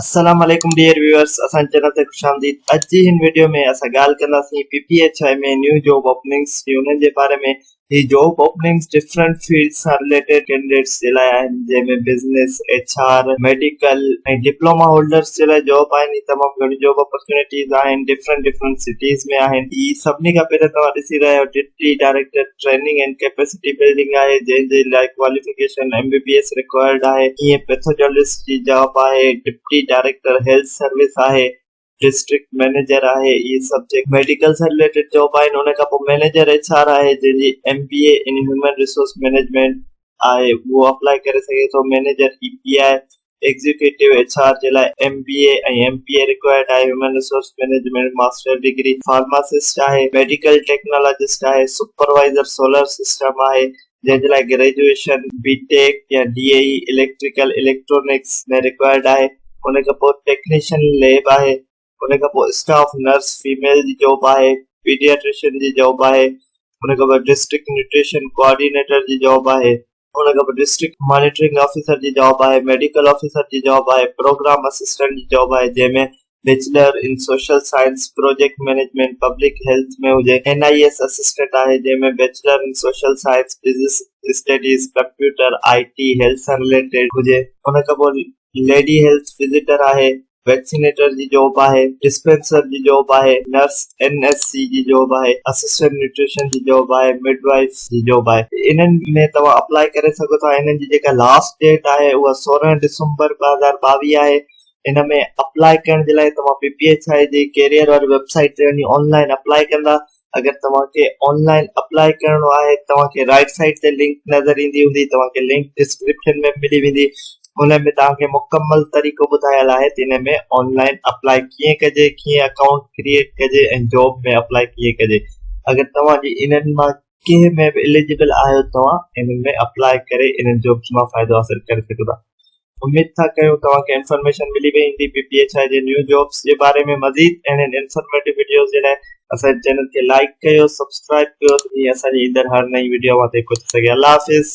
السلام عليڪم dear viewers اسان جي چينل تي خوش آمديد اڄ جي هن وڊيو ۾ اسان ڳالهه ڪنداسين پي پي ايڇ آء ۾ نيو جاب اوپننگس جي انهن جي باري ۾ هي جاب اوپننگس ڊفرنٽ فيلڊس سان رليٽيڊ ڪينڊيڊيٽس جي لاء آهن جنهن ۾ business H R medical ۽ diploma holders جي لاء جاب آهن هي تمام گهڻي جاب اپرچونيٽيز آهن ڊفرنٽ ڊفرنٽ سٽيز ۾ آهن هي سڀني کان پهريان توهان ڏسي رهيا آهيو deputy director training and capacity building آهي جنهن جي لاء qualification M B B S required آهي ائين پيٿوجالجسٽ جي جاب آهي ڊپٽي ڊائريڪٽر هيلٿ سروس آهي ڊسٽرڪٽ مئنيجر آهي اهي سڀ جيڪي ميڊيڪل سان رليٽيڊ جاب آهن ان کان پوء مئنيجر ايڇ آر آهي جنهن جي M B A in human resource management آهي اهو اپلائي ڪري سگهي ٿو manager A P I executive H R جي لاء M B A ۽ M P A required آهي، human resource management master degree, pharmacist آهي، ميڊيڪل ٽيڪنالاجسٽ آهي، سپروائيزر سولر سسٽم آهي، جنهن جي لاء گريجوئيشن بي ٽيڪ يا D A E, electrical electronics, ۾ required آهي، ان کان پوء ٽيڪنيشن ليب آهي، ان کان پوء اسٽاف نرس فيميل جي جاب آهي، پيڊياٽريشن جي جاب آهي، ان کان پوء ڊسٽرڪٽ نيوٽريشن ڪوآرڊينيٽر جي جاب آهي، ان کان پوء ڊسٽرڪٽ مانيٽرنگ آفيسر جي جاب آهي، ميڊيڪل آفيسر جي جاب آهي، پروگرام اسسٽنٽ جي جاب آهي جنهن ۾ bachelor in social science, project management, public health ۾ هجي، اين آء ايس اسسٽنٽ آهي جنهن ۾ bachelor in social science, business studies, computer, I T, health سان رليٽيڊ هجي، ان کان پوء ليڊي هيلٿ وزيٽر آهي ويڪسينيٽر جي جاب آهي، ڊسپينسر جي جاب آهي، نرس، اين ايس سي، جي جاب آهي، اسسٽنٽ نيوٽريشن جي جاب آهي، مڊ وائيف جي جاب آهي. انهن ۾ توهان اپلائي ڪري سگهو ٿا. انهن جي جيڪا لاسٽ ڊيٽ آهي اها سورهن ڊسمبر ٻه هزار ٻاويهه آهي. ان ۾ اپلائي ڪرڻ جي لاء توهان پي پي ايڇ آء جي ڪيريئر واري ويب سائيٽ تي وڃي آن لائن اپلائي ڪندا اگر توهان کي آن لائن اپلاء ڪرڻو آهي توهان کي رائٽ سائيڊ تي لنڪ نظر ايندي هوندي توهان کي لنڪ ڊسڪرپشن ۾ ملي ويندي ان ۾ توهان کي مڪمل طريقو ٻڌايل آهي ته ان ۾ آن لائن اپلاء ڪيئن ڪجي ڪيئن اڪائونٽ ڪريئيٽ ڪجي ۽ جاب ۾ اپلاء ڪيئن ڪجي اگر توهان جي انهن مان ڪنهن ۾ به اليجبل آهيو توهان انهن ۾ اپلاء ڪري انهن جابس مان فائدو حاصل ڪري سگهندا اميد ٿا ڪيون توهان کي انفارميشن ملي وئي هوندي پي پي ايڇ آء جي نيو جابس جي باري ۾ مزيد اهڙين انفارميٽو وڊيوز جي لاء اسان جي چينل کي لائيڪ ڪيو سبسڪرائيب ڪيو ۽ اسان جي ايندڙ هر نئين وڊيو اوهان تائين پهچي سگهي الله حافظ